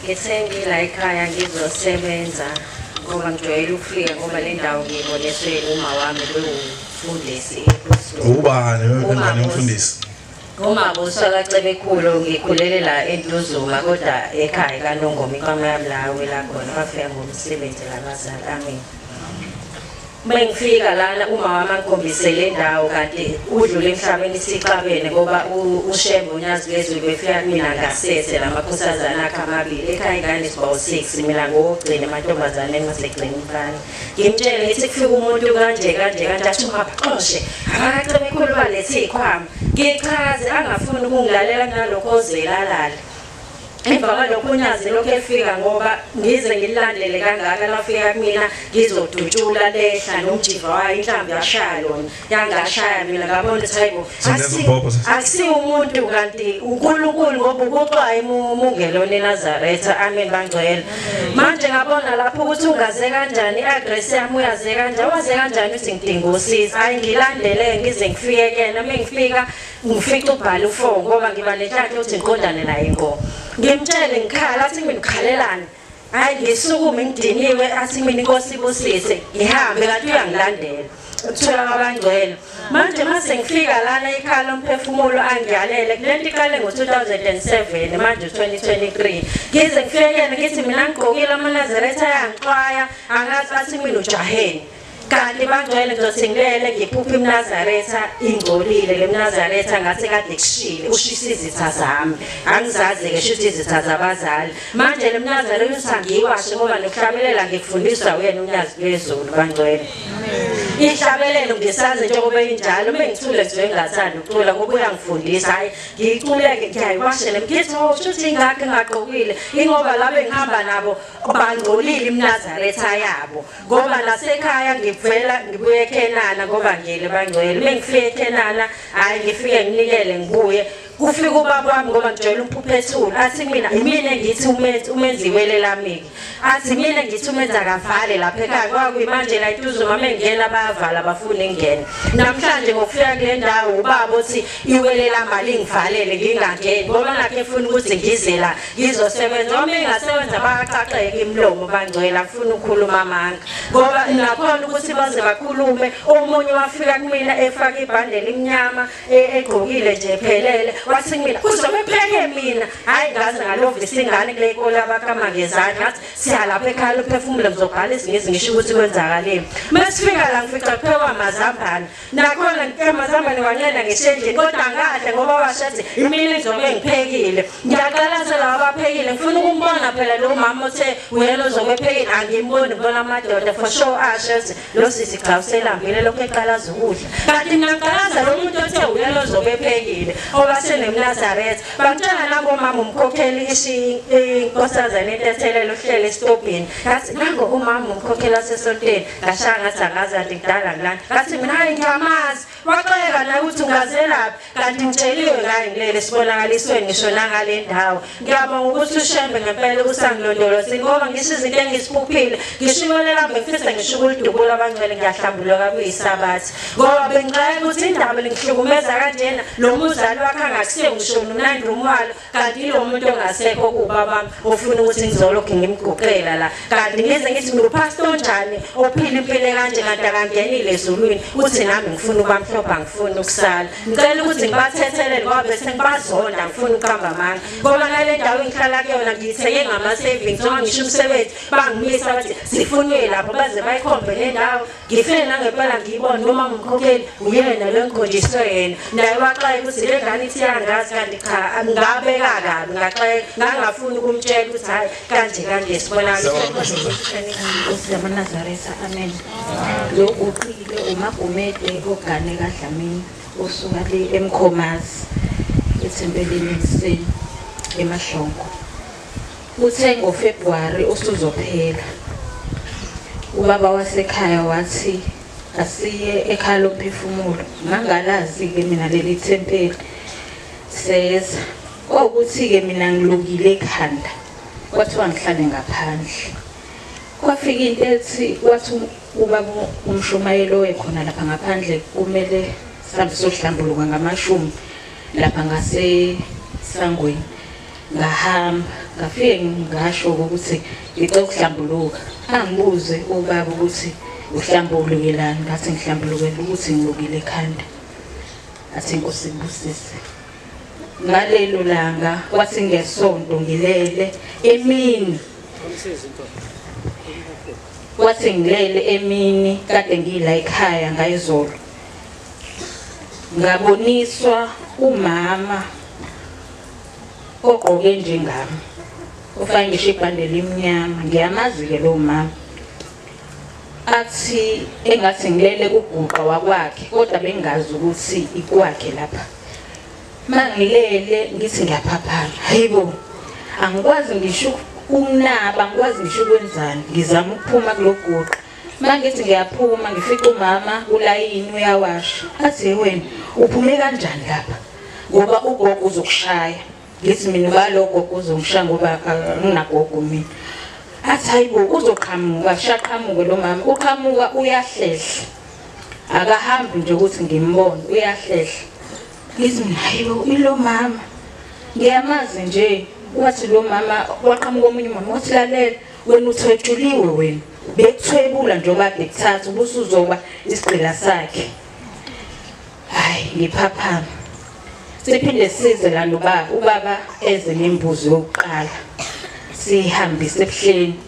Ngisengila ekhaya ngizosebenza ngoba ngijwayele ukufika ngoba le ndawo ngiyiboniswe uma wami bewumfundisi ubani wengane yomfundisi umabuso kacebekhulu ngikhulele la entuzuma kodwa ekhaya kanongoma ikwameyamlawe la khona bafika ngomsebenzi labazali amin Mengifika lana umama angikhombise le ndawo kade udlule emhlabeni sixabene ngoba uShembe uNyazi Lezwe befika kumina ngasese lamakhosazana akhe amabili ekhaya ingane sibawu 6 mina ngokugcina amantombazane engasegcina umfana ngimtshele ngithi kufika umuntu kanje kanje kanje athi ungabaxoshe akacebe ekhuluma lethi ikhwama ngichaze angafuni ukungilalela kunalokho ozelalalela emva kwalokho unyazi lokhu efika ngoba ngize ngililandele kangaka lafika kumina ngizodutshula lehla nomjiva wayo inhlambi yashaya lona yangashaya mina ngabona ukuthi hayibo akusiwo umuntu kanti unkulunkulu ngoba ukuxwaye mungelona enazaretha amen bangcwele manje ngabona lapho ukuthi ungaze kanjani i-agress yami uyaze kanjani waze kanjani ukuthi ngidinga usiza hhayi ngilandele ngize ngifike kena uma ngifika ngifica ubhala ufo ngoba ngiba netshatha ukuthi ngiqondane naye ngo ngimtshele ngikhala athi mina ukhalelani hayi ngisukume ngidiniwe athi mina inkosi ibusise ngihambe kanti uyangilandela ukuthola kwabangcwele manje mase ngifika lana ikhala umphefumulo angiyalele kulento iqale ngo-2007 manje 2023 ngize ngifekele ngithi mina ngigqokile amanazaretha ayangixwaya angathi athi mina ujaheni kanti bangcwele ngizothingelele ngiphuphe imnazaretha ingcolile le mnazaretha ngathi kade kushile ushisa izitha zami angizazi-ke shuthi izitha zabazali manje le mnazaretha uthi angiyiwashe ngoba nokuhlabelela ngikufundiswa uyena unyazi lwezulu bangcwele ihlabelelo ngisazi njengoba injalo uma ngithule ngizwe ngingathandi ukucula ngoba uyangifundisa hhayi ngiyiculeke ngiyayiwashe le mgithi o oh, shuthi ingakho engagqokile ingoba labe ngihamba nabo bangcolile imnazaretha yabo ngoba nasekhaya ngivela ngibuye eKhenana kovangeli bangcwele uma ngifike eKhenana hhayi ngifike nginikele ngibuye kufika ubaba wami ngoba ngijwayele umphuphethulu athi mina imina engithi umenzi umenzi iwele lami-ke athi mina ngithi umenzi akavale lapha ekhaya kwakuyimanje la ituzo mama engena bayavala bafuna ingene namhlanje ngokufika kule ndawo ubaba othi iwele lamali ngivalele ngingangeni ngoba nakhe efuna ukuthi ngize la ngizosebenza uma engasebenza bakaxaxeke imlomo bangcwela afuna ukukhuluma amanga ngoba nakhona ukuthi baze bakhulume omunye wafika kumina efaka ibhande elimnyama e, egqokile nje phelele wathi kumina kuzobe pheke mina hhayi ngaze ngalovisa ingane kule nkolo abakama ngezandla ngathi siyalapha ekhaya luphefumule ngizobhala izingizi ngisho ukuthi kwenzakaleni uma sifika la ngifica kuphekwa mazambane nakhona ngicela mazambane wanela ngeshendleni kodwa angahle ngoba washathi imini izobe ngiphekile ngiyaqalaza laba baphekile ngifuna ukumbona phela lo mama othe uyena ozobe ephekile angimboni bona amadoda for sure asho ukuthi lo sisi cha uselambile lokho eqalaza ukudla kanti mina ngiqalaza lo muntu othe uyena ozobe ephekile oba senemnazaretha bantwana nabo mama umkhokheli ishi inkosazane intethelelo uhlele esitobhini ngathi nango umama umkhokhela sesonteni ngashaya ngathi angazi kanti kudala ngilani ngathi mina hayi ngiyamazi waxeka naye ukuthi ngazelaphi kanti ngitsheliwe ngaye ngilele sibonakaliswe ngisho nangale ndawo ngiyabonga ukuthi ushembe ngempela ukusangilondolozini ngoba ngisho izinto engisiphuphile ngisho imelolambe ngifisa ngisho ukulidubula abangcwele ngiyahlambuluka kuyisabathi ngoba bengixaka ukuthi indaba lingihlukumeza kanjena lo muzali wakhe angakusiye ngisho nomnandi umwalo kanti lo muntu ongasekho kubaba ufuna ukuthi ngizolokhu ngimguqela la kanti ngize ngithi ngupastor onjani ophila impilo kanje kanti akangenile ezulwini uthi nami ngifuna ubamhlopha ngifuna ukusala ngicela ukuthi ngibathethelele ngoba bese ngibazonda ngifuna ukuhamba amanga ngoba ngale ndawo engihlala kuyona ngiyithenge ngama-savings noma ngisho umsebenzi bangimisa bathi sifunwe lapho baze bayikhombe le ndawo ngifike nangempela ngiyibone noma ngimkhokheli uyena lo engikhonjiswe yena naye waxaye ukuthi le ngane ithi yangazi kanti cha ngabeka kabi ngaxaye ngangafuni ukumtshela ukuthi hhayi kanje kanje sibonanazaretha amen lo uqile umagumede ogane kadlamini osuka le emkhomazi ethempelini ekuseni emahlongo Kuthe ngoFebruary usuzophela, ubaba wasekhaya wathi asiye ekhaya lomphefumulo ngangalazi-ke mina leli thempeli seza kwawukuthi-ke mina ngilungile ekhanda kwathiwa ngihlale ngaphandle kwafika into ethi wathi ubaba umshumayeli owekhona lapha ngaphandle kumele sihambe sohlambuluka ngamashumi lapha ngasesangweni ngahamba ngafike ngasho ukuthi ngicela ukuhlambuluka angibuze ubaba ukuthi uhlambulukilani ngathi ngihlambulukela ukuthi ngilukile ekhanda athi inkosi ibusise ngalelo langa kwathi ngesonto ngilele emini kwathi ngilele emini kade ngiyila ekhaya ngayizolo ngaboniswa umama ogqoke njengami ufake ngisho ibhande limnyama ngiyamazi-ke lowo mama athi engathi ngilele kuguqa wakwakhe kodwa bengazi ukuthi ikwakhe lapha uma ngilele ngithi ngiyaphaphana hayi bo angikwazi ngisho ukunaba angikwazi ngisho ukwenzani ngizama ukuphuma kuloguqa uma ngithi ngiyaphuma ngifica umama ulayini uyawasha athi wena uphume kanjani lapha ngoba ugogo uzokushaya ngithi mina ubalogo uzongishaya ngoba anginagogo mina athi hayibo uzoqhamuka shaqhamuke lo mama uqhamuka uyahlehla akahambi nje ukuthi ngimbone uyahlehla ngithi mina hayibo ilo mama ngiyamazi nje wathi lo mama waqhamuka omunye umama wathi lalela wena uthwetshuliwe wena bekuthwebula njengoba bekuthatha ubusuzoba isigqila sakhe Hayi ngiphaphama. Siphinde size la nobaba ubaba eze nembuzo yokuqala. Sihambise ebuhleni.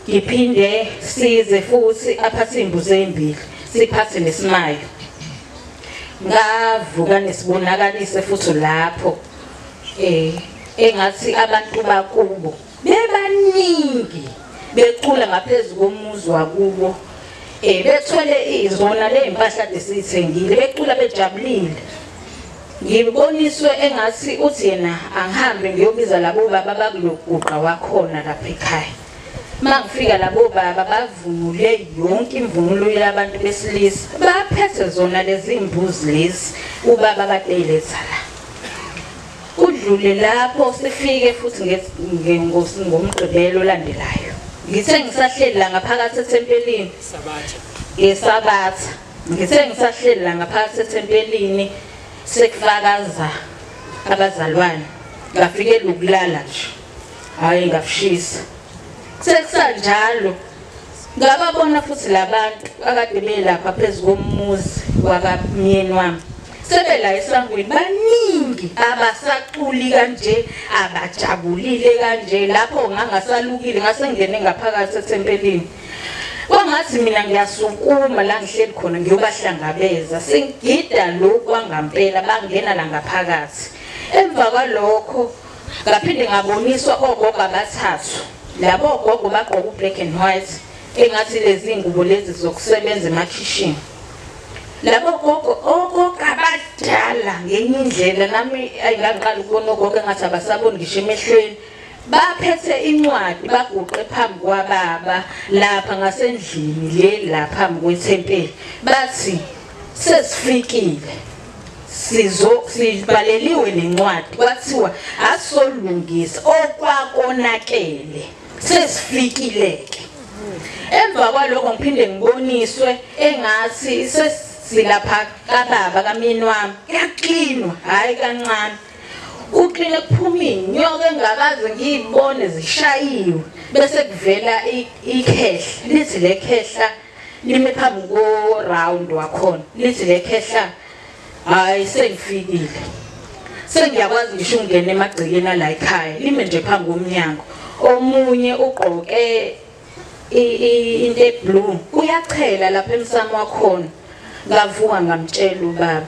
Ngiphinde size futhi aphathe imbuzo ezimbili. Siphathe nesimayo. Ngavuka nesibonakaliso futhi lapho eh engathi abantu bakubo bebaningi becula ngaphezu komuzi wakubo um eh, bethwele izona ley'mpahla desiyithengile becula bejabulile ngiboniswe engathi uthi yena angihambe ngiyobiza labo baba bakuloguqa wakhona lapha ekhaya uma ngifika labo baba bavunule yonke imvunulo yabantu besilisa baphethe zona lezi mbuzi lezi ubaba kade eyiletha la Kudlule lapho sifike futhi ngomgqibelo olandelayo. Ngithe ngisahleli la ngaphakathi ethempelini. Sabatha. Ngesabatha. Ngithe ngisahleli la ngaphakathi ethempelini sekufakaza abazalwane. Ngafikela ukulala nje. Hayi ngafishisa. Sekusanjalo Ngababona futhi labantu akade belapha phezu komuzi wakamyeni wami. Sebela esangweni baningi abasaculi kanje abajabulile kanje lapho ngangasalukile ngasengene ngaphakathi ethempelini. kwangathi mina ngiyasukuma la ngihleli khona ngiyobahlangabeza sengigida lokhu kwangampela bangena la ngaphakathi emva kwalokho ngaphinde ngaboniswa ogogo abathathu labo ogogo bagqoka u-black and white engathi lezi ngubo lezi zokusebenza emakhishini labo gogo ogogo abadala ngenye indlela nami ayingangiqala ukubona ogogo engathi abasaboni ngisho emehlweni baphethe incwadi baguqe phambi kwababa lapha ngasendlini le lapha kwethempeli bathi sesifikile sizo sibaleliwe nencwadi kwathiwa asolungisa okwakonakele sesifikile ke emva kwaloko ngiphinde ngiboniswe engathi sesilapha kababa kamini wami kuyaklinwa hayi kancane uqine kuphuma inyoka engakaze ngiyibone zishayiwe bese kuvela ikhehle lithi le khehla nime phambi ko round wakhona lithi lekhehla hayi sengifikile sengiyakwazi ngisho ungena emagcekeni ala ekhaya lime nje phambi komnyango omunye ugqoke into eblue uyachela lapha emsamo wakhona ngavuka ngamtshela ubaba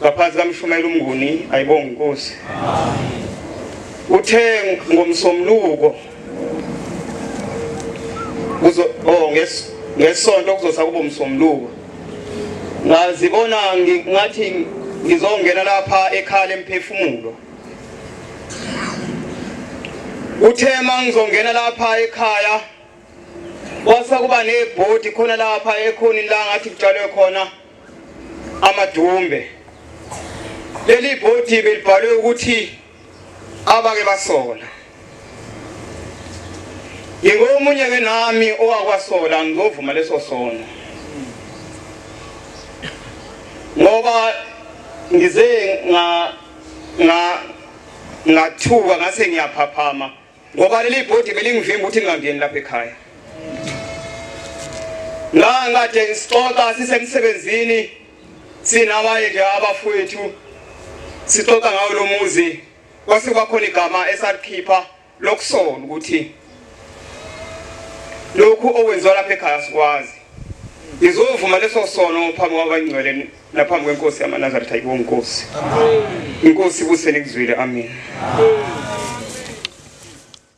ngaphansi kaMshumayeli uMnguni ayibonga inkosi uthe ngomsomluko kuzo oh nges ngesonto kuzosa kubo msomluko ngazibona ngathi ngizongena lapha ekhala emphefumulo uthe mangizongena lapha ekhaya kwasa kuba nebhodi khona lapha ekhonini la ngathi kutshalwe khona amadumbe leli bhodi belibhalwe ukuthi abake basola ngingomunye ke nami owakwasola ngizovuma leso sono ngoba ngize nga nga ngathuka ngase ngiyaphaphama ngoba leli bhodi belingivimba ukuthi ngingangeni lapha ekhaya ngangikade ngisixoxa sisemsebenzini sinabanye nje abafowethu sixoxa ngawo lo muzi kwase kwakhona igama esalikhipha lokusola ukuthi lokhu okwenziwa lapha ekhaya sikwazi ngizovuma leso sono phambi kwabangcwele naphambi kwenkosi yamanazaretha ayibo nkosi inkosi ibusele kuzwile amen